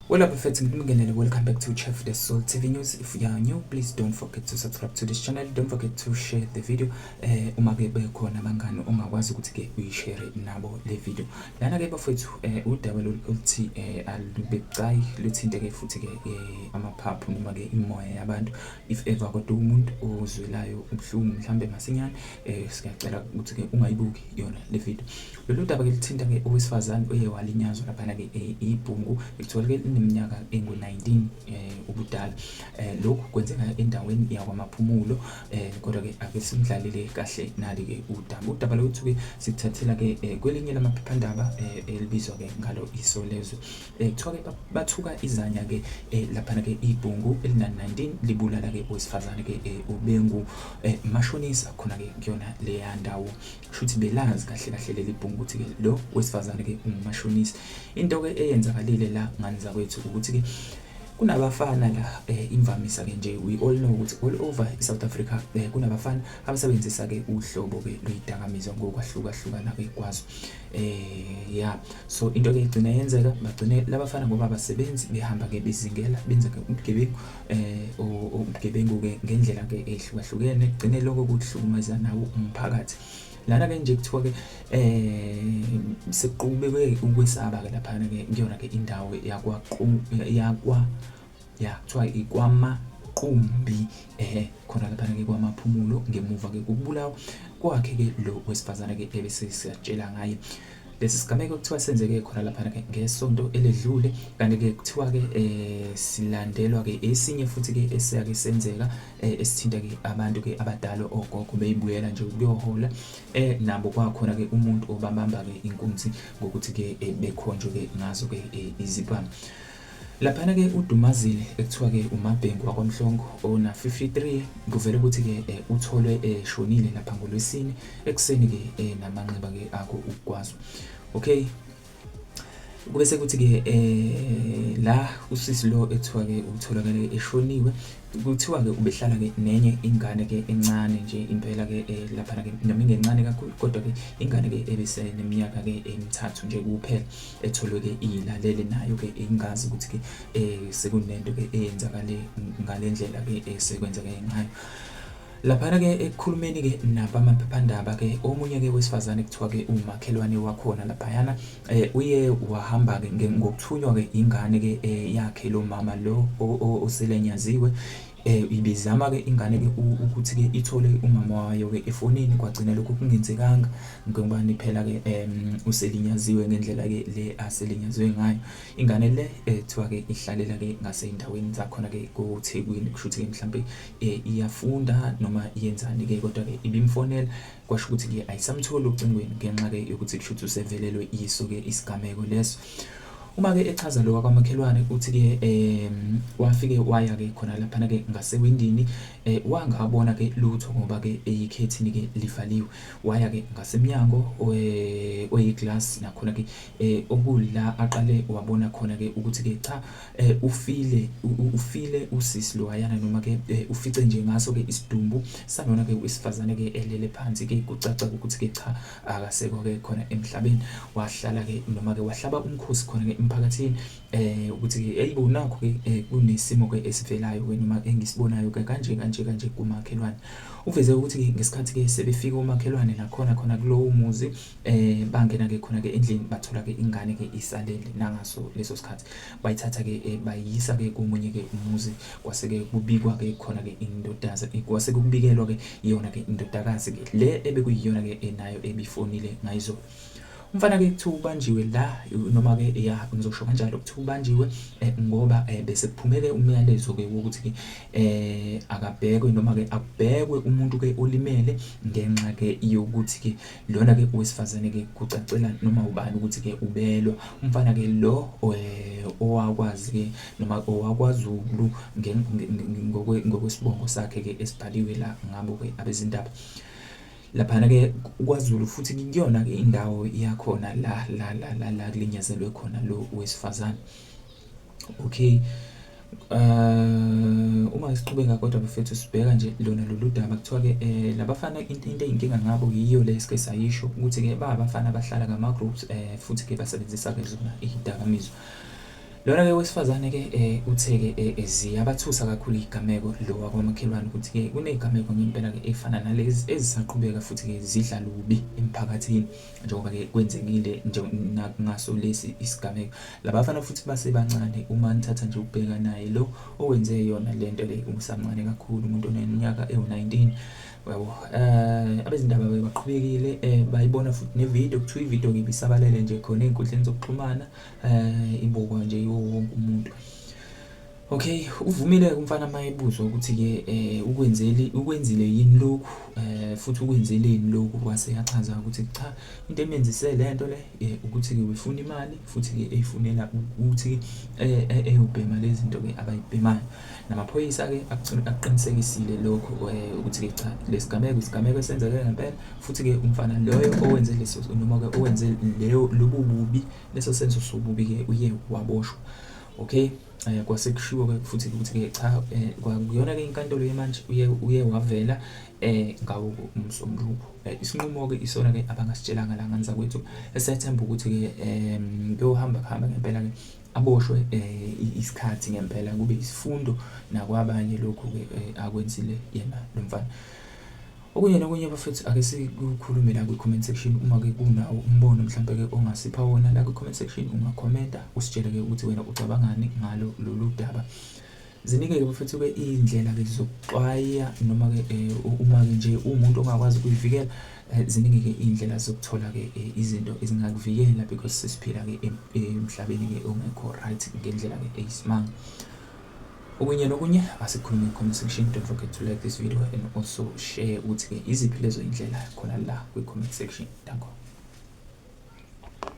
Well up effects ngibingelele welcome back to Chef the Soul TV News if you are new please don't forget to subscribe to this channel don't forget to share the video eh uma ke bekhona abangani ongakwazi ukuthi ke uyishare nabo le video lana ke bafethu eh udaba loluthi eh alubecayi luthinte ke futhi ke eh, amaphaphu noma ke imoya yabantu if ever kodwa umuntu ozwelayo ubuhlungu mhlambe masinyane eh siyacela ukuthi ke ungayibuki yona le video Lolu daba ke luthinta ke owesifazane oye walinyazwa laphana ke eh, ibhungu ekutholeke lineminyaka engu-19 eh, ubudala. Eh, lokhu kwenzeka endaweni yakwamaphumulo eh, kodwa ke ake simdlalele kahle nali ke udaba. Udaba lwethu ke sikuthathela ke eh, kwelinye lamaphephandaba eh, elibizwa ke ngalo Isolezwe. Eh, kuthiwa ke ba- bathuka izanya ke eh, laphana ke ibhungu elina-19 libulala ke owesifazane ke eh, obengu eh, mashonisa khona ke kuyona leya ndawo. shuthi belazi kahle kahle leli bhungu ukuthi ke lo wesifazane ke ungumashonisa into ke eyenzakalile la ngani zakwethu ukuthi ke kunabafana la eh, imvamisa ke nje we all know ukuthi all over iSouth Africa eh, kunabafana abasebenzisa ke uhlobo ke lweyidakamizwa ngokwahlukahlukana ke kwazo eh yeah so into ke igcina yenzeka bagcine labafana ngoba abasebenzi behamba ke bezingela benza ke ubugebengu eh ubugebengu-ke ngendlela-ke ehlukahlukene kugcine lokho kuhlukumeza nawo umphakathi lana-ke nje kuthiwa-ke um sekuqubeke ukwesaba-ke laphana-ke kuyona-ke indawo yakwa ya kuthiwa ikwama kumbi eh khona laphana ke kwamaphumulo ngemuva ke kubulawa kwakhe ke lo wesifazana ke ebese siyatshela ngaye lesi sigameko kuthiwa senzeke khona lapha ke ngesonto eledlule kanti ke kuthiwa ke eh silandelwa ke esinye futhi ke esiyake senzeka eh, esithinta ke abantu ke abadala ogogo beyibuyela nje ukuyohola eh nabo kwakhona ke umuntu obabamba ke inkunzi ngokuthi ke eh, bekhonjwe ke ngazo ke eh, izibhamu Laphana ke uDumazile ekuthiwa ke uMabhengu waKwaMhlongo ona 53 kuvela ukuthi ke eh, utholwe eshonile eh, lapha ngoLwesine ekuseni ke eh, namanxeba ke akho ukugwazwa. Okay. Kube sekuthi ke eh la usisi lo ekuthiwa ke utholakale eshoniwe kuthiwa ke ubehlala ke nenye ingane ke encane nje impela ke eh, lapha ke noma ingencane kakhulu kodwa ke ingane ke ebiseneminyaka ke emithathu nje kuphela etholwe-ke iyilalele nayo-ke ingazi ukuthi-ke um sekunento-ke eyenzakale ngale ndlela-ke esekwenzeke ngayo laphana-ke ekukhulumeni-ke nabamaphephandaba-ke omunye-ke wesifazane kuthiwa-ke umakhelwane wakhona laphayana um uye wahamba-ke ngokuthunywa-ke ingane-ke yakhe lo mama lo oselenyaziwe Eh ibizama ke ingane ke ukuthi ke ithole umama wayo ke efonini kwagcina lokho kungenzekanga ngoba niphela ke um uselinyaziwe ngendlela ke le aselinyaziwe ngayo ingane le ethiwa ke ihlalela ke ngasendaweni zakhona ke koThekwini kushuthi ke mhlambe eh, iyafunda noma yenzani ke kodwa ke ibimfonela kwasho ukuthi ke ayisamtholi ocingweni ngenxa ke yokuthi kushuthi usevelelwe iso ke isigameko leso Uma ke echaza lo wakwamakhelwane uthi ke eh wafike waya ke khona lapha ke ngasewindini eh wangabona ke lutho ngoba ke eyikhethini ke livaliwe waya ke ngasemnyango eh, oyiglass nakhona ke eh okula aqale wabona khona ke ukuthi ke cha eh, ufile ufile usisi lo ayana noma ke eh, ufice nje ngaso ke isidumbu sanona ke wesifazane ke elele phansi ke kucaca ukuthi ke cha akasekho ke khona emhlabeni wahlala ke noma ke wahlaba umkhosi khona ke emphakathini eh ukuthi ke hey bonakho ke eh, kunesimo ke esivelayo ke noma engisibonayo ke kanje kanje kanje kumakhelwane uveze ukuthi ke ngesikhathi ke sebefika umakhelwane la khona khona kulowo muzi eh bangena ke khona ke endlini bathola ke ingane ke isalele nangaso leso sikhathi bayithatha-ke eh, bayiyisa-ke komunye-ke umuzi kwase-ke kubikwa-ke khona-ke indodaza eh, kwase kubikelwa-ke iyona-ke indodakazi-ke le ebekuyiyona-ke enayo eh, ebifonile ngayizolo umfana-ke kuthiwa ubanjiwe la noma-ke ya ngizosho kanjalo kuthiwa ubanjiwe um ngoba um bese kuphume-ke umyalezo-ke wokuthi-ke um akabhekwe noma-ke akubhekwe umuntu-ke olimele ngenxa-ke yokuthi-ke Lona ke owesifazane ke kucacela noma ubani ukuthi ke ubelwa umfana ke lo eh, owakwazi ke noma owakwaZulu ngokwesibongo sakhe ke esibhaliwe la ngabo ke abezindaba laphana ke kwaZulu futhi kuyona ke indawo yakhona la la la la kulinyazelwe khona lo wesifazane Okay. Uh, uma siqhubeka kodwa bafethu sibheka nje lona lolu daba kuthiwa-ke um eh, labafana into eyinkinga ngabo yiyo le sike sayisho ukuthi-ke ba abafana abahlala ngama-groups um futhi-ke basebenzisa-ke zona iy'dakamizwa lona-ke wesifazane-ke um uthe-ke um ziyabathusa kakhulu iy'gameko lo wakwamakhelwane ukuthi-ke kuney'gameko ngempela-ke ey'fana nalezi ezisaqhubeka futhi-ke zidla lubi emphakathini njengoba-ke kwenzekile ngaso lesi isigameko labafana futhi basebancane uma nithatha nje ukubheka naye lo owenze yona le nto le umsamncane kakhulu umuntu oneminyaka ewu-19 yabo um eh, abezindaba baqhubekile um eh, bayibona futhi nevidiyo kuthiwa ividiyo-ke ibisabalele nje khona ey'nkundleni zokuxhumana um ibukwa nje yiwo wonke umuntu Okay, uvumile umfana mayebuzwa ukuthi ke eh ukwenzeli ukwenzile yini lokhu eh futhi ukwenzile yini lokhu wase yachaza ukuthi cha into emenzise lento le eh, ukuthi ke ufuna imali futhi ke eyifunela ukuthi eh, eh eyobhema lezi zinto ke abayibhemayo namaphoyisa ke akuqinisekisile lokho eh, ukuthi ke cha lesigameko isigameko esenzeke ngempela futhi ke umfana loyo owenze leso noma ke owenze leyo lobububi leso senzo sobubi ke uye waboshwa okay eh kwase kushiwo ke futhi ukuthi ke cha eh, kwakuyona ke inkantolo yemanje uye uye wavela eh ngawo umsombuluko eh, isinqumo ke isona ke abangasitshelanga la nganza kwethu esethemba ukuthi ke em kuyohamba khamba ngempela ke aboshwe eh, isikhathi ngempela kube isifundo nakwabanye lokhu ke eh, akwenzile yena lomfana Okunye nokunye bafethu ake sikukhulume la kwi-comment section uma ke kunawo umbono mhlampe ke ongasipha wona la kwi-comment section ungakhomenta usitshele ke ukuthi wena ucabangani ngalo lolu daba. Ziningi-ke bafethu ke iy'ndlela-ke zokuxwaya noma-ke eh, uma-ke nje uwumuntu ongakwazi ukuyivikela eh, ziningi-ke iy'ndlela zokuthola-ke eh, izinto ezingakuvikela because sesiphila-ke emhlabeni-ke ongekho right ngendlela-ke eyisimanga. Okunye nokunye asikhulume comment section. Don't forget to like this video and also share ukuthi-ke iziphi lezo indlela khona la kwi-comment section. Danko.